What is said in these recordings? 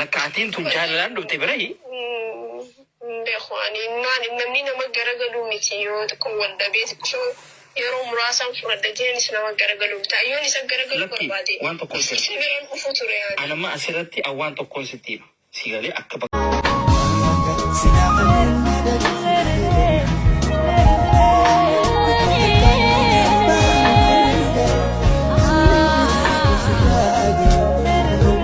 Lakka atiin tun jaalalaan dhufte birahi. Hin beeku ani maal namni nama garagaluu miti yoo xiqqoo wal dhabee xiqqoo yeroo muraasaan furadha jenis nama garagaluu miti an yoon isa garagaluu Lakki barbaade waan tokkoon sirra. si biran dhufu ture ani. An amma asirratti an waan tokkoon sitti hima. Si galee akka bakka.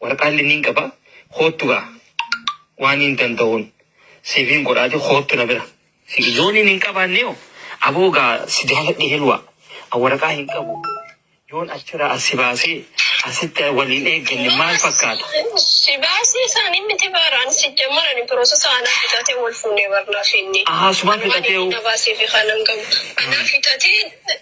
Warqaalle nin qaba, koottu gaa waaniin danda'uun siifin godhaati koottu na bira. Si yooniin hin qabaanne hoo? Aboo gaa si jaaladhe Heluwaa. An waraqaa hin qabu. Yoon achiraa as si baasee asitti wal hin eegganne maal fakkaata? Si baasii isaan hin miti baar an sijjammar ani pirosesa anaa fixatee wal fuunee bar naaf inni. Ahaa sumaa Anumaan inni fixateehu. na baasee fi kanan qabu anaa fixatee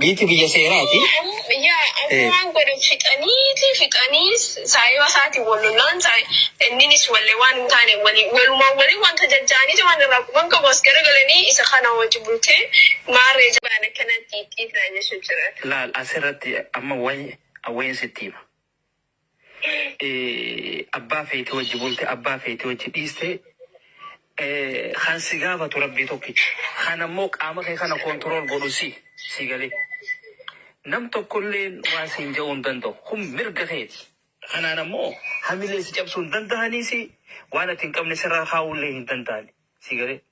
Biiti biyya seeraati. Biyya amma waan godhan fixaniiti fixanii saayiba isaatiin wal lollaan inninis walle waan hin taane wali walumaan wali wanta jajjaaniiti waan irraa quban qabu as garagalanii isa kana wajji bultee maarree jabaan akkanatti ittiifnaa jechuu jira. Laal asirratti amma way awwayn sitti hima. Abbaa feete wajji bulte abbaa feete wajji dhiiste kan si gaafatu rabbii tokkicha. Kan ammoo qaama kee kana control godhu si si galee. Nam tokkolleen waa siin ja'uu hin danda'u. Kun mirga keeti. Kanaan ammoo hamilee si cabsuu hin danda'anii si waan ati hin qabne sirraa kaa'ullee hin danda'ani. Si galee.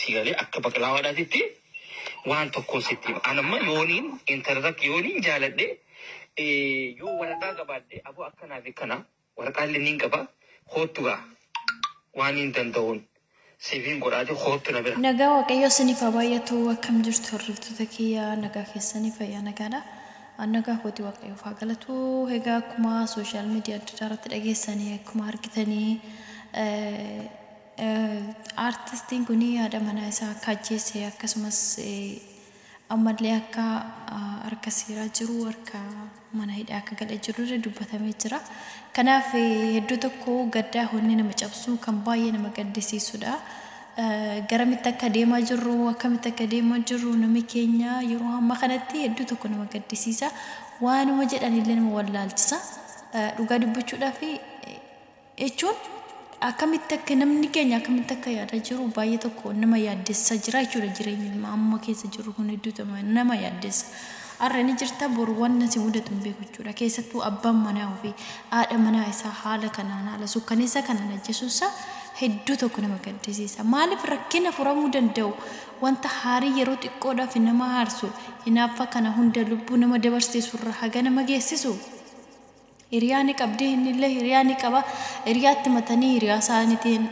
Sii galee akka baqlaawaadhaatitti waan tokkoon sitti hima. An amma yooniin intala takka yooniin jaaladhe eh, yoo waraqaa qabaadhe aboo akkanaa fi kana waraqaa illee niin qaba koottu gaa waan niin danda'uun siifiin godhaati koottu na bira. Nagaa Waaqayyoo isiniif haa baay'atu akkam jirtu hordoftoota kiyya nagaa keessanii fayyaa nagaadha. An nagaa kooti Waaqayyoof haa galatu. Egaa akkuma sooshaal miidiyaa adda addaa irratti dhageessanii akkuma argitanii eh, Aartistiin kun haadha manaa isaa akka ajjeese akkasumas ammallee akka harka seeraa jiru harka mana hidhaa akka galee jirullee dubbatamee jira. Kanaaf hedduu tokko gaddaa honni nama cabsuu kan baay'ee nama gaddisiisudha. Garamitti akka deemaa jirru akkamitti akka deemaa jirru namni keenya yeroo hamma kanatti hedduu tokko nama gaddisiisa. Waanuma jedhanillee nama wallaalchisa. Dhugaa dubbachuudhaaf jechuun akkamitti akka namni keenya akkamitti akka yaadaa jiru baay'ee tokko nama yaaddessaa jira jechuudha jireenyi ilmaa amma keessa jirru kun hedduu nama yaaddessa har'a ni jirta boru waan nasi mudatu hin beeku jechuudha keessattuu abbaan manaa ofii haadha manaa isaa haala kanaan haala sukkaneessaa kanaan ajjeesuun isaa hedduu tokko nama gaddisiisa maaliif rakkina furamuu danda'u wanta haarii yeroo xiqqoodhaaf nama haarsu hinaaffaa kana hunda lubbuu nama dabarsiisu irra haga nama geessisu Hiriyaa ni qabdii innillee hiriyaa ni qaba hiriyaatti matanii hiriyaa isaanitiin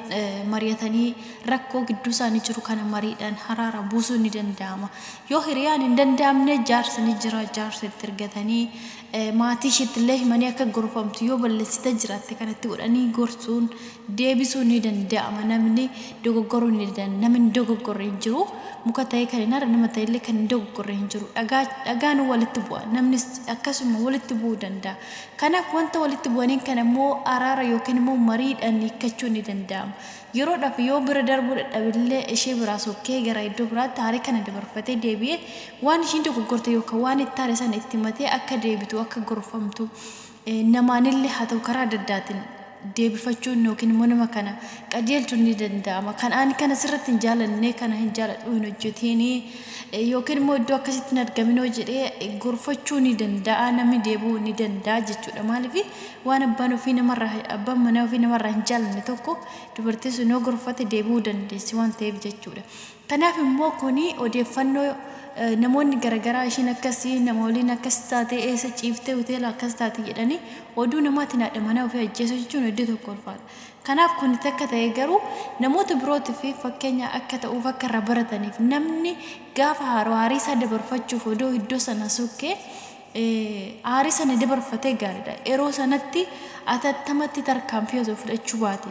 mari'atanii rakkoo gidduu isaanii jiru kana mariidhaan haraara buusuun ni danda'ama yoo hiriyaan hin danda'amne jaarsi ni jira jaarsa itti ergatanii maatii ishiittillee himanii akka gorfamtu yoo balleessite jiraatte kanatti godhanii gorsuun deebisuu ni danda'ama namni dogoggoruu ni danda'an namni hin dogoggorre hin jiru muka ta'ee kan hin arre nama ta'ellee kan hin dogoggorre hin jiru dhagaa dhagaan walitti bu'a namnis akkasuma walitti bu'uu danda'a kanaaf wanta walitti bu'aniin kan immoo araara yookiin immoo mariidhaan hiikkachuu ni danda'ama yeroodhaaf yoo bira darbuu dadhabillee ishee biraa sokkee gara iddoo biraatti haarii kana dabarfatee deebi'ee waan ishiin dogoggorte yookaan waan itti haare sana itti matee akka deebitu akka gorfamtu namaanille haa ta'u karaa adda addaatiin deebifachuun yookiin immoo nama kana qajeelchuun ni danda'ama. Kan ani kana sirratti hin jaalanne, kana hin jaaladhu hin hojjetiin yookiin immoo iddoo akkasitti hin argaminoo jedhee gorfachuu ni danda'a. Namni deebi'uu ni danda'a jechuudha. Maaliif waan abbaan ofii namarraa abbaan manaa ofii namarraa hin jaalanne tokko dubartiin sun yoo gorfate deebi'uu dandeessi waan ta'eef jechuudha. Kanaaf immoo kun odeeffannoo namoonni garagaraa ishiin akkasi, nama waliin akkas taate, eessa ciifte, hoteela akkas taate jedhanii oduu namaatiin haadha manaa ofii ajjeesuu jechuun hedduu tokko ulfaata. Kanaaf kun takka ta'ee garuu namoota birootiif fakkeenya akka ta'uuf akka irraa barataniif namni gaafa haaru aarii isaa dabarfachuuf odoo iddoo sana sukkee aarii sana dabarfatee gaariidha. Yeroo sanatti atattamatti tarkaanfii osoo fudhachuu baate.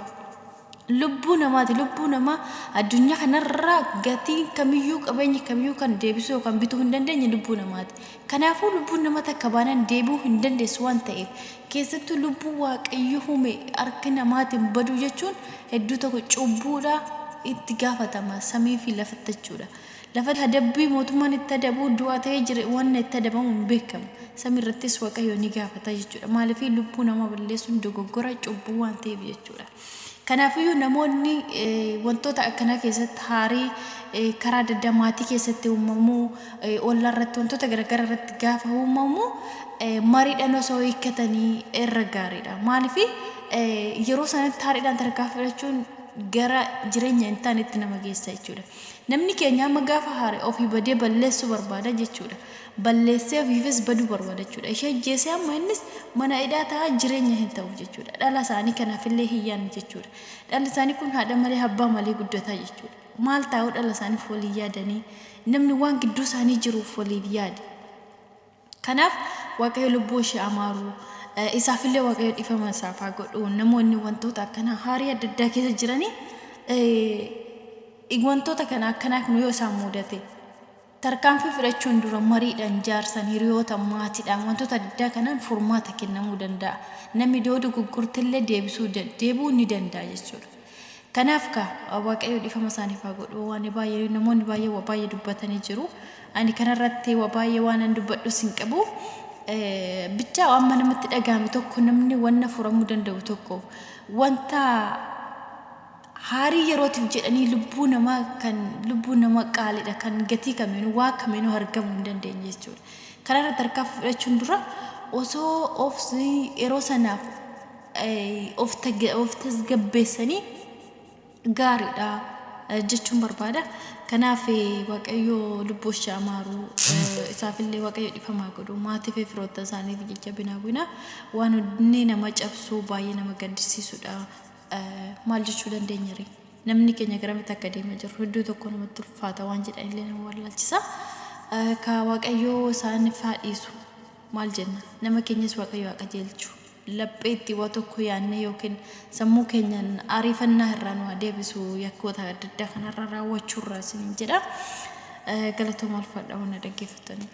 Lubbuu namaati. Lubbuu namaa addunyaa kanarraa gatiin kamiyyuu qabeenyi kamiyyuu kan deebisuu yookaan bituu hin dandeenye lubbuu namaati. Kanaafuu lubbuun nama takka baanaan deebi'uu hin dandeessu waan ta'eef keessattuu lubbuu waaqayyo hume harki namaatiin baduu jechuun hedduu tokko cubbuudha itti gaafatama samii fi lafattachuudha. Lafatti adabbii mootummaan itti adabuu du'a ta'ee jira wanna itti adabamu hin beekamu. Samii irrattis Waaqayyo ni gaafata jechuudha. Maaliif lubbuu namaa balleessuun dogoggora cubbuu waan ta'eef jechuudha. Kanaafiyyuu namoonni wantoota akkanaa keessatti haarii karaa adda addaa maatii keessatti uumamuu, ollaa irratti wantoota garaagaraa irratti gaafa uumamu mariidhaan osoo hiikkatanii irra gaariidha. Maaliif yeroo sanatti haariidhaan tarkaanfii fudhachuun gara jireenya hin taanetti nama geessa jechuudha. Namni keenya amma gaafa haare ofii badee balleessuu barbaada jechuudha. Balleessee ofiifis baduu barbaada jechuudha. Ishee ajjeesee amma innis mana hidhaa ta'a jireenya hin ta'uuf jechuudha. Dhala isaanii kanaafillee hin yaadne jechuudha. Dhalli isaanii kun haadha malee abbaa malee guddataa jechuudha. Maal taa'uu dhala isaaniif waliin yaadanii? Namni waan gidduu isaanii jiruuf waliif yaade. Kanaaf Waaqayyo lubbuu ishee haa maaru. Isaaf illee Waaqayyo dhifama isaaf haa godhu. Namoonni wantoota akkanaa haarii adda addaa keessa jiranii eh, wantoota kana akkanaa kun yoo isaan mudate tarkaanfii fudhachuun dura mariidhaan jaarsan hiriyoota maatiidhaan wantoota adda addaa kanaan furmaata kennamuu danda'a. Namni doodu gurgurtillee deebisuu da- deebi'uu ni danda'a jechuudha. Kanaaf kaa waaqayyo dhifama isaaniif haa godhu waan baay'ee namoonni baay'ee waa baay'ee dubbatanii jiru ani kanarratti waa baay'ee waan an dubbadhus hin qabu bichaa amma namatti dhaga'ame tokko namni wanna furamuu danda'u tokko wanta haarii yerootiif jedhanii lubbuu namaa kan lubbuu nama qaaliidha kan gatii kamiinuu waa kamiinuu argamuu hin dandeenye jechuudha. Kanarra tarkaanfii fudhachuun dura osoo obsi yeroo sanaaf of tasgabbeessanii gaariidha jechuun barbaada. Kanaaf Waaqayyoo lubbuu ishee amaaru isaaf illee Waaqayyo dhifamaa godhu maatii fi firoota isaaniif jajjabina hawwina. Waan onnee nama cabsuu baay'ee nama gaddisiisudha. Maal jechuu dandeenya ree? Namni keenya garamitti akka deemaa jiru hedduu tokko namatti ulfaata waan jedhan illee nama wallaalchisa. Ka Waaqayyoo isaaniif haa dhiisu. Maal jenna? Nama keenyas Waaqayyo haa qajeelchu. Lapheetti waa tokko yaadnee yookiin sammuu keenyaan ariifannaa irraa nu haa deebisu yakkoota adda addaa kanarra raawwachuu irraa isiniin jedha. Eh, Galatooma ulfaadha waan na dhaggeeffattaniif.